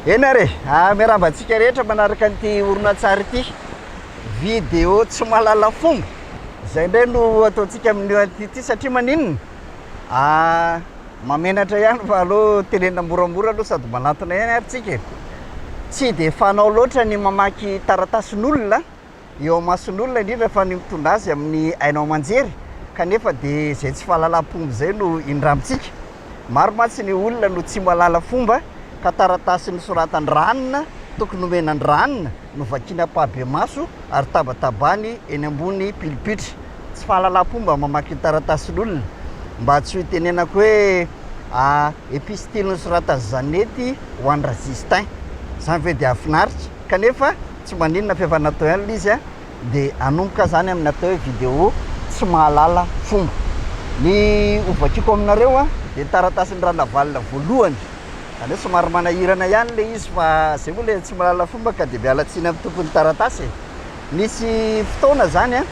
Eny ary e, miarahaba antsika rehetra manaraka an'ity horonantsary ity, vidéo tsy mahalala fomba, izay indray no ataontsika amin'io an'ity ity satria maninona? Mahamenatra ihany fa aleo tenenina moramora aloha sady manatona ihany ary tsika e, tsy dia fanao loatra ny mamaky taratasin'olona, eo amason'olona indrindra fa ny mitondra azy amin'ny haino aman-jery kanefa dia izay tsy fahalalam-pomba izay no indramitsika. Maro mantsy ny olona no tsy mahalala fomba ka taratasy nosoratan-dRanona tokony homena an-dRanona no vakiany ampahibemaso ary tabatabany eny ambony pilipitra. Tsy fahalalam-pomba mamaky ny taratasin'olona mba tsy ho itenenako hoe a epistily nosoratan'i Zanety ho an-dRajistin. Izany ve dia hahafinaritra? Kanefa tsy maninona f'efa natao ihany le izy a! dia hanomboka aho zany amin'ny atao hoe vidéo tsy mahalala fomba. Ny ho vakiako aminareo a dia taratasin-dRanavalona voalohany, zany hoe somary manahirana ihany le izy fa zay moa le tsy mahalala fomba ka dia miala tsiny amin'ny tompon'ny taratasy e! Nisy fotoana zany a,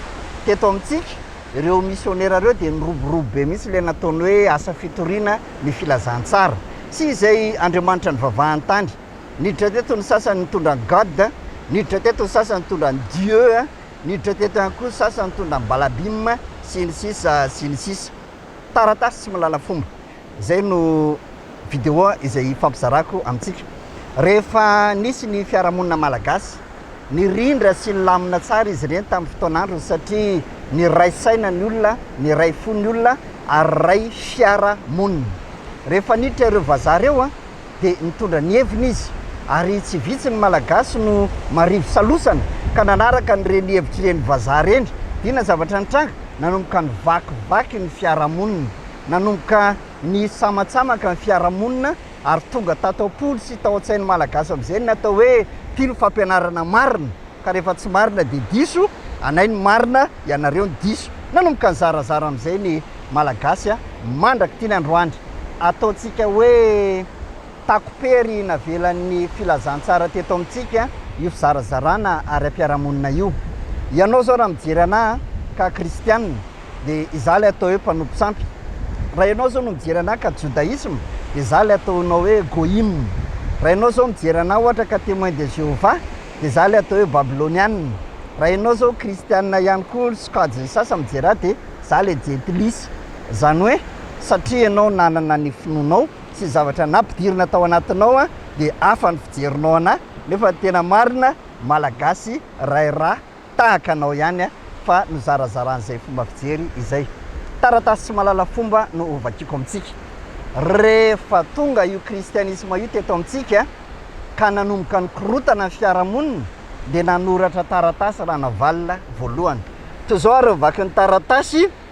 teto amintsika, ireo misionera ireo dia niroborobo be mihitsy le nataony hoe asa fitoriana ny filazantsara sy izay Andriamanitra nivavahan-tany Niditra teto ny sasany nitondra an'i God, niditra teto ny sasany nitondra an'i Dieu, niditra teto ihany koa ny sasany nitondra an'i Balabim, sy ny sisa sy ny sisa. Taratasy tsy mahalala fomba. Izay no video izay hifampizarako amintsika. Rehefa nisy ny fiarahamonina malagasy, nirindra sy nilamina tsara izy ireny tamin'ny fotoan'androny satria niray saina ny olona, niray fo ny olona ary niray fiarahamonina. Rehefa niditra ireo vazaha ireo, dia nitondra ny heviny izy ary tsy vitsy ny Malagasy no marivo salosana ka nanaraka an'ireny hevitr'ireny vazaha ireny. Inona zavatra nitranga? Nanomboka nivakivaky ny fiarahamonina, nanomboka nisamatsamaka ny fiarahamonina ary tonga tato am-pony sy tao an-tsain'ny Malagasy amin'izay ny atao hoe mpino fampianarana marina. ka rehefa tsy marina dia diso anay ny marina ianareo ny diso nanomboka nizarazara amin'izay ny Malagasy a! mandraka ity ny androany ataontsika hoe takopery navelan'ny filazantsara teto amintsika io fizarazarana ara-piarahamonina io ianao zao raha mijery anah ka kristianina dia izaho ilay atao hoe mpanompo sampy raha ianao zao no mijery anah ka jodaisme dia izaho ilay ataonao hoe goyim raha ianao zao mijery anah ohatra ka temoin de Jehovah Dia za le atao hoe babylonianina. Raha enao zao kristianina ihany koa ry sokajin'ny sasany mijery ahy dia za le jentilisa. Izany hoe satria enao nanana ny finoanao sy ny zavatra nampidirina tao anatinao dia hafa ny fijerinao anahy nefa tena marina malagasy ray rà. Tahaka anao ihany a fa nozarazaran'izay fomba fijery izay. Taratasy tsy mahalala fomba no ho vakiako amintsika. Rehefa tonga io kristianisma io teto amintsika ka nanomboka nikorotana ny fiarahamonina dia nanoratra taratasy Ranavalona voalohany. Toy izao ary ny vakin'ny taratasy.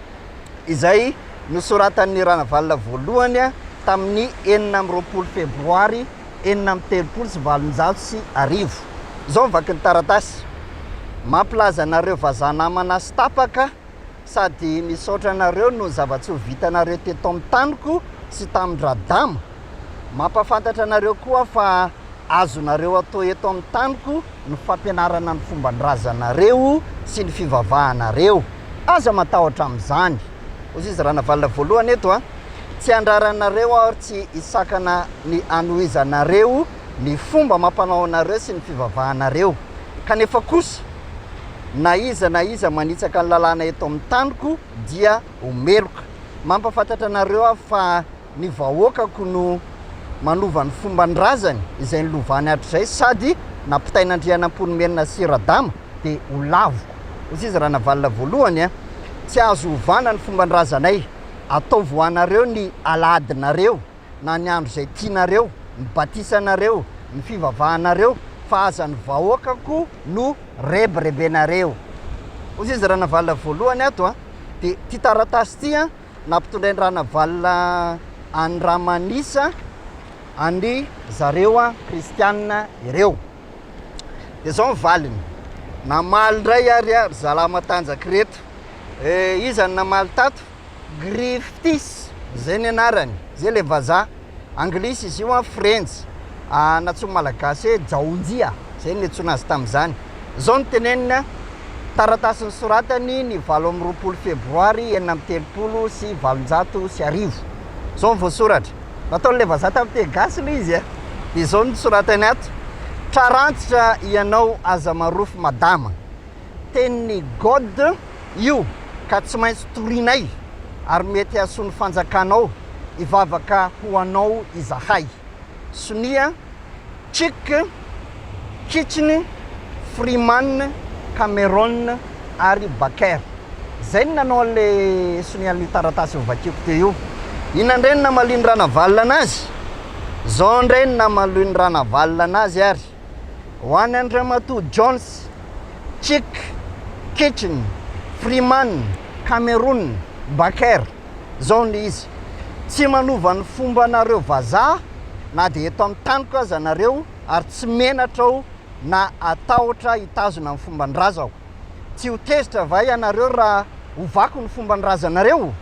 izay nosoratan'i Ranavalona voalohany tamin'ny enina amby roapolo febroary enina amby telopolo sy valonjato sy arivo. Izao ny vakin'ny taratasy, Mampilaza anareo vazaha namana sy tapaka sady misaotra anareo noho ny zava-tsoa vitanareo teto amin'ny taniko sy tamin-dRadama. Mampahafantatra anareo koa aho fa. Azonareo atao eto amin'ny taniko ny fampianarana ny fomban-drazanareo sy ny fivavahanareo. Aza matahotra amin'izany. Hoy izy Ranavalona Voalohany eto an! Tsy handraranareo aho ary tsy hisakana ny hanohizanareo ny fomba amam-panao anareo sy ny fivavahanareo. Kanefa kosa, na iza na iza manitsaka ny lalàna eto amin'ny taniko dia ho meloka. Mampafantatra anareo aho fa. Ny vahoakako no manova ny fomban-drazany izay nilovany hatrizay sady nampitain'Andrianampoinimerina sy Radama dia ho laviko. Hoy izy Ranavalona voalohany a! Tsy azo ovana ny fomban-drazanay, ataovy ho anareo ny alahadinareo na ny andro izay tianareo, ny batisanareo, ny fivavahanareo fa aza ny vahoakako no rebirebenareo. Hoy izy Ranavalona voalohany ato a! Dia ity taratasy ity a! nampitondrain-dRanavalona an'i Ramanisa an-dry zareo kristianina ireo. Dia izao ny valiny, namaly indray ary ry zalahy matanjaka ireto. Eh, iza no namaly tato? Griftis, izay ny anarany, izay ilay vazaha. Anglisy izy io an, Frenjy. An, nantsoin'ny Malagasy hoe Jaonjia, izay no niantsoana azy tamin'izany. Izao no teneniny an, Taratasy nosoratany ny valo amby roapolo febroary enina amby telopolo sy valonjato sy arivo. Izao no voasoratra. Nataon'ilay vazaha tamin'ny teny gasy aloha izy an, dia izao no soratany ato, Tra rantsitra ianao aza marofo madama. Tenin'i God io ka tsy maintsy torianay, ary mety hahasoa ny fanjakanao hivavaka ho anao izahay. Sonia, Chick, Kitchen, Freeman, Cameron ary Baker. Izay no nanao an'ilay sonian'io taratasy novakiako teo io. Inona indray no namalin'i Ranavalona anazy? Izao indray no namalin'i Ranavalona anazy ary. Ho an' Andriamatoa Jones, Chick, Kitchen, Freeman, Cameroon, Baker, zao ny izy, Tsy manova ny fombanareo vazaha na dia eto amin'ny taniko aza nareo ary tsy menatra aho na atahotra hitazona ny fomban-drazako. Tsy ho tezitra va ianareo raha ovako ny fomban-drazanareo?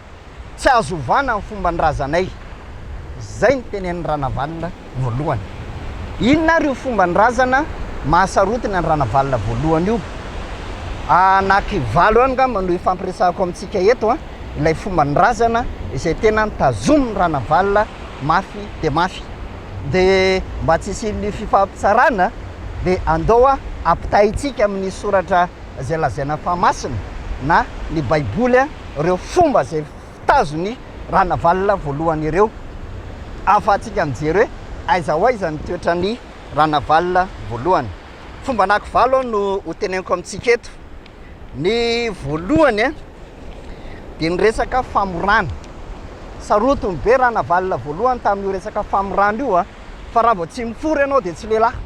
Tsy azo ovana ny fomban-drazanay. Izay ny tenenin'i Ranavalona voalohany. Inona ary io fomban-drazana mahasarotiny an'i Ranavalona voalohany io? Anaky valo eo angamba no ifampiresahako amintsika eto an, ilay fomban-drazana izay tena tazomin'i Ranavalona mafy dia mafy. De mba tsy hisian'ny fifampitsarana de andao a ampitahaintsika amin'ny soratra zay lazaina fa masina na ny baiboly a reo fomba zay tazon'i Ranavalona voalohany ireo ahafahantsika mijery hoe aiza ho aiza ny toetran'i Ranavalona voalohany. Fomban'aky valo aho no ho teneniko amintsika eto. Ny voalohany a, dia ny resaka famorana. Sarotiny be Ranavalona voalohany tamin'io resaka famorana io a, fa raha vao tsy mifoha ianao dia tsy lehilahy,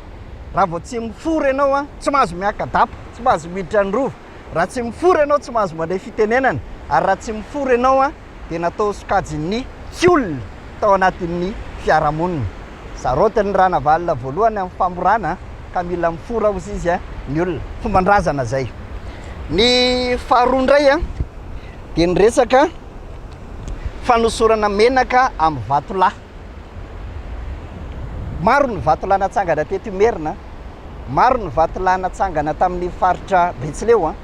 raha vao tsy mifoha ianao a, tsy mahazo miaka-dapa, tsy mahazo miditra ny Rova, raha tsy mifoha ianao tsy mahazo mandray fitenenana, ary raha tsy mifoha ianao a, dia natao sokajin'ny tsy olona tao anatin'ny fiarahamonina. Saraotin'ny Ranavalona voalohany amin'ny famorana ka mila mifora hozy izy ny olona. Fomban-drazana izay. Ny faharoa indray dia ny resaka fanosorana menaka amin'ny vatolahy. Maro ny vatolahy natsangana teto Imerina, maro ny vatolahy natsangana tamin'ny faritra Betsileo.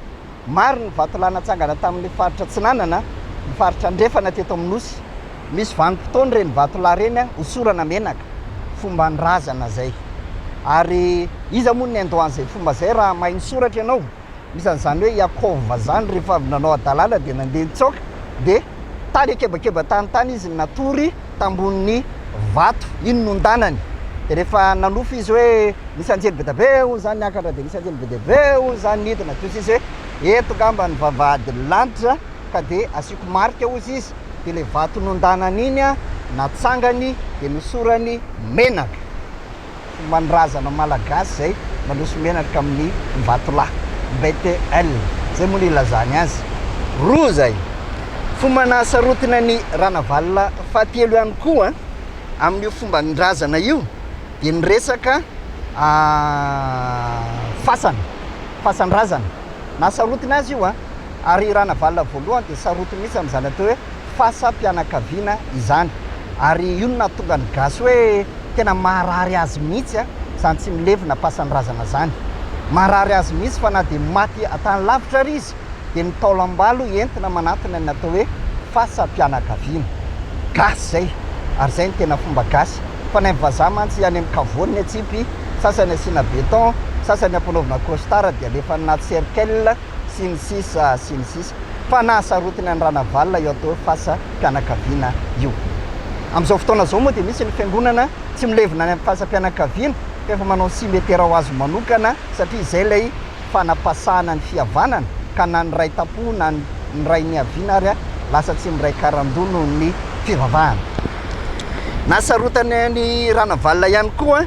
Maro ny vatolahy natsangana tamin'ny faritra Atsinanana, ny faritra Andrefana teto amin'ny Nosy. Misy vanim-potoana ireny vatolahy ireny hosorana menaka, fomban-drazana izay. Ary iza moa no niandoha an'izay fomba izay raha mahay misoratra ianao? Misy an'izany hoe Iakova izany, rehefa avy nanao hadalana dia nandeha nitsaoka, dia tany an-kebakeba tany tany izy natory. tambonin'ny vato. Iny nondanany dia rehefa nanofy izy hoe nisy anjely be dia be hono izany niakatra dia nisy anjely be dia be hono izany nidina dia hozy izy hoe eto ngamba ny vavahady ny lanitra ka dia asiako marika hozy izy dia ilay vato nondanany iny natsangany dia nosorany menaka. manrazana malagasy izay mandroso menatra amin'ny vatolahy, BTL, izay moa no ilazany azy. Roa izay. Fomba nahasarotiny an'i Ranavalona fahatelo ihany koa amin'io fomban-drazana io dia ny resaka fasana, fasan-drazana. Nahasarotiny azy io an! Ary i Ranavalona voalohany dia sarotiny mihitsy amin'izany atao hoe. fasam-pianakaviana izany. Ary io no nahatonga ny gasy hoe tena maharary azy mihitsy izany tsy milevina pasan-drazana izany. Maharary azy mihitsy fa na dia maty an-tany lavitra ary izy dia ny taolam-balo entina manantona ny atao hoe fasam-pianakaviana. Gasy izay ary izay no tena fomba gasy. Fa ny an'ny vazaha mantsy any amin'ny kavoany ny atsipy, sasany asiana béton, sasany ampanaovina costard dia alefa any anaty cercle, sy ny sisa sy ny sisa fa nahasarotiny an'i Ranavalona io atao hoe fasa mpianakaviana io. Amin'izao fotoana izao moa dia misy ny fiangonana tsy milevina any amin'ny fasam-pianakaviana fa efa manao simetera ho azy manokana satria izay ilay fanapasahana ny fihavanana ka na ny ray tampo na ny ray niaviana ary lasa tsy miray karandoha noho ny fivavahana. Nahasarotany an'i Ranavalona ihany koa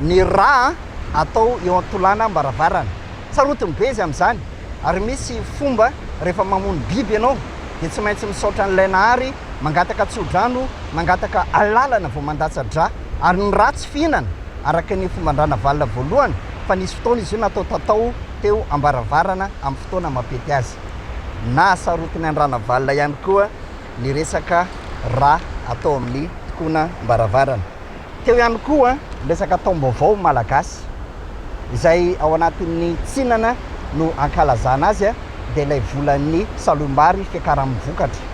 ny rà atao eo an-tolànam-baravarana. Sarotiny be izy amin'izany ary misy fomba rehefa mamono biby ianao dia tsy maintsy misaotra an'ilay Nahary, mangataka tsodrano, mangataka alalana vao mandatsa-dra ary ny ra tsy fihinana araka ny fomban-dRanavalona voalohany fa nisy fotoana izy io natao tatao teo ambaravarana amin'ny fotoana mampety azy. Nahasarotiny an-dRanavalona ihany koa ny resaka ra atao amin'ny tokona am-baravarana. Teo ihany koa ny resaka taom-baovao malagasy, izay ao anatin'ny tsinana no ankalazana azy, dia ilay volan'ny saloim-bary fiakaran'ny vokatra.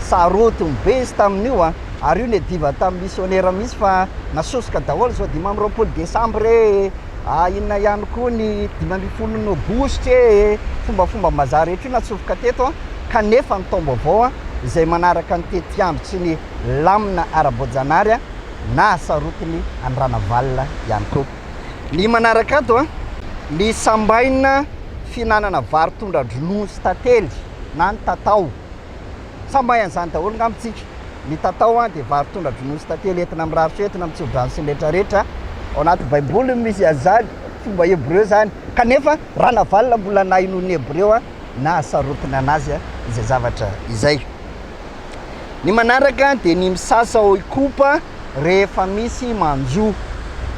Sarotiny be izy tamin'io, ary io niadiva tamin'ny misionera mihitsy fa nasosoka daholo izao dimy amby roapolo desambra ee, ah inona ihany koa ny dimy ambin'ny folo aogositra ee, fombafomba-mbazaha rehetra io natsofoka teto, kanefa ny taom-baovao izay manaraka ny tetiandro tsy ny. lamina ara-boajanary nahasarotiny an'i Ranavalona ihany koa. Ny manaraka ato, ny sambaina fihinanana vary tondra-dronono sy tantely na ny tatao. Sambaina an'izany daholo angamba isika. Ny tatao dia vary tondra-dronono sy tantely entina mirary feo, entina mitsoa drano sy ny rehetra rehetra. Ao anaty baiboly no misy an'izany, fomba hebreo izany. Kanefa Ranavalona mbola nahenoan'ny hebreo nahasarotiny an'azy izay zavatra izay. Ny manaraka dia ny misasa ao Ikopa rehefa misy manjo.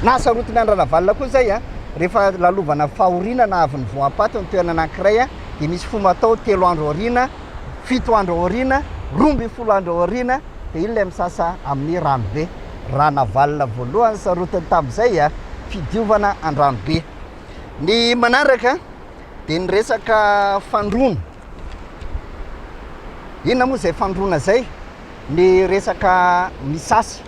Nahasarotiny an-dRanavalona koa izay a! Rehefa lalovana fahoriana na avy nivoampaty ny toerana anankiray a, dia misy fomba atao telo andro aoriana, fito andro aoriana, roa ambin'ny folo andro aoriana, dia iny ilay misasa amin'ny ranobe. Ranavalona voalohany nisarotiny tamin'izay a! Fidiovana an-dranobe. Ny manaraka dia ny resaka fandroana. Inona moa izay fandroana izay? Ny resaka misasy,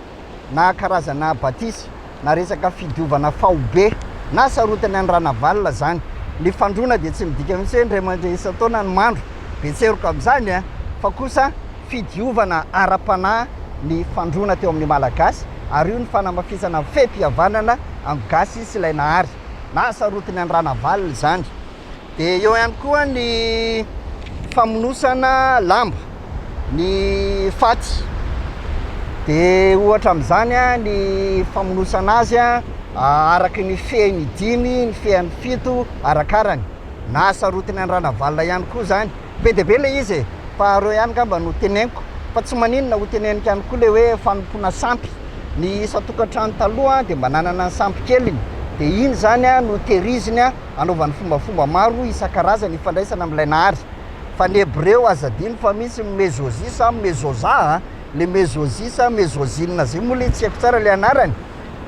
na karazana batisa, na resaka fidiovana faobe, na sarotiny an'i Ranavalona izany. Ny fandroana dia tsy midika mihitsy hoe indray mandeha isan-taona ny mandro, be tseroka amin'izany an! fa kosa fidiovana ara-panahy ny fandroana teo amin'ny Malagasy, ary io ny fanamafisana ny fehim-pihavanana amin'ny Gasy sy ilay Nahary, na sarotiny an'i Ranavalona izany. dia eo ihany koa ny famonosana lamba, ny faty. Dia ohatra amin'izany ny famonosana azy araka ny fehiny dimy, ny fehiny fito, arakarany. Na sarotiny an-dRanavalona ihany koa izany. Be dia be ilay izy e! Faharoa ihany angamba no teneniko, fa tsy maninona, ho teneniko ihany koa ilay hoe fanompoana sampy. Ny isan-tokantrano taloha dia mba nanana ny sampy keliny, dia iny izany no tehiriziny. anaovany fombafomba maro isan-karazany ifandraisana amin'ilay Nahary. Fa ny Hebreo aza adino fa misy ny Mezozisa an, Mezoza an, le Mezozisa, Mezozina zay moa le tsy haiko tsara le anarany.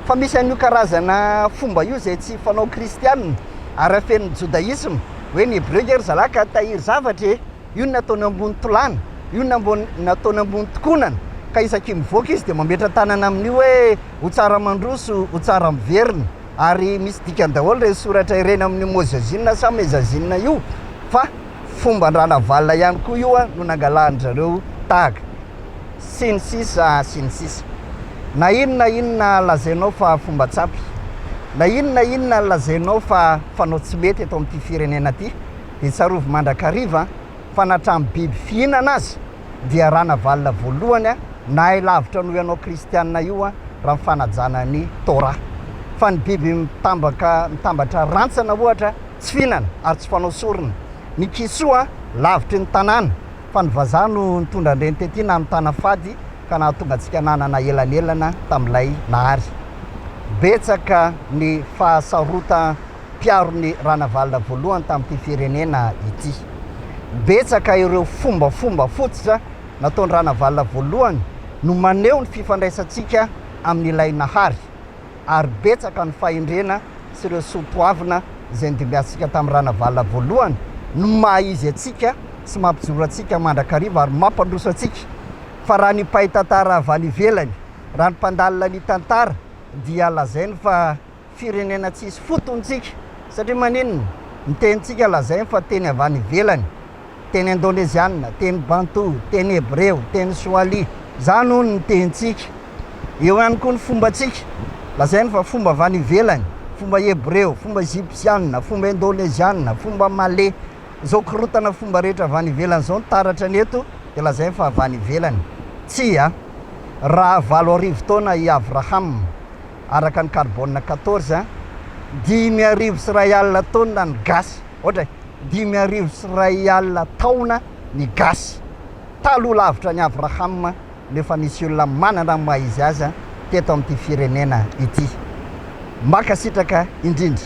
Fa misy an'io karazana fomba io zay tsy fanao Kristianina ary afenin'ny Jodaisma. Hoe ny Hebreo nge ry zalahy ka tahiry zavatra e! Io ny nataony ambony tolàna, io ny nataony ambony tokonana, ka isaky mivoaka izy dia mametra-tanana amin'io hoe ho tsara mandroso, ho tsara miverina. ary misy dikany daholo ireny soratra ireny amin'io Mozezina sa Mezazina io fa fomban-dRanavalona ihany koa io no nangalahan-dry zareo tahaka, sy ny sisa sy ny sisa. Na inona inona lazainao fa fomba tsy ampy, na inona inona lazainao fa fanao tsy mety eto amin'ity firenena ity dia tsarovy mandrakariva fa na hatramin'ny biby fihinana aza, dia Ranavalona voalohany a! nahay lavitra noho ianao kristianina io a! raha ny fanajana ny Torah. Fa ny biby mitambaka mitambatra rantsana ohatra tsy fihinana ary tsy fanao sorona. Ny kisoa lavitry ny tanàna fa ny vazaha no nitondra an'ireny tety nanontana fady ka nahatonga antsika nanana elanelana tamin'ilay Nahary. Betsaka ny fahasarotan mpiaro ny Ranavalona voalohany tamin'ity firenena ity. Betsaka ireo fombafomba fototra nataon-dRanavalona voalohany no maneho ny fifandraisantsika amin'ilay Nahary, ary betsaka ny fahendrena sy ireo soa toavina izay nidimbiasintsika tamin'ny Ranavalona voalohany no maha-izy antsika sy mampijoro antsika mandrakariva ary mampandroso antsika. Fa raha ny mpahay tantara avy any ivelany, raha ny mpandalina ny tantara dia lazainy fa. Firenena tsisy fotony ntsika satria maninona? Ny tenintsika lazainy fa teny avy any ivelany, teny indôneziana, teny bantô, teny hebreo, teny soali. Izany hono ny tenintsika. Eo ihany koa ny fombantsika, lazainy fa fomba avy any ivelany, fomba hebreo, fomba ejipsiana, fomba indôneziana, fomba malê. Izao korotana fomba rehetra avy any ivelany izao ny taratra ny eto dia lazainy fa avy any ivelany. Tsia. Raha valo arivo taona i Avraham. araka ny carbone quatorze dimy arivo sy iray alina taonina ny gasy ohatra e dimy arivo sy iray alina taona ny gasy taloha lavitra ny avraham no efa nisy olona manana ny maha izy azy teto amin'ity firenena ity mankasitraka indrindra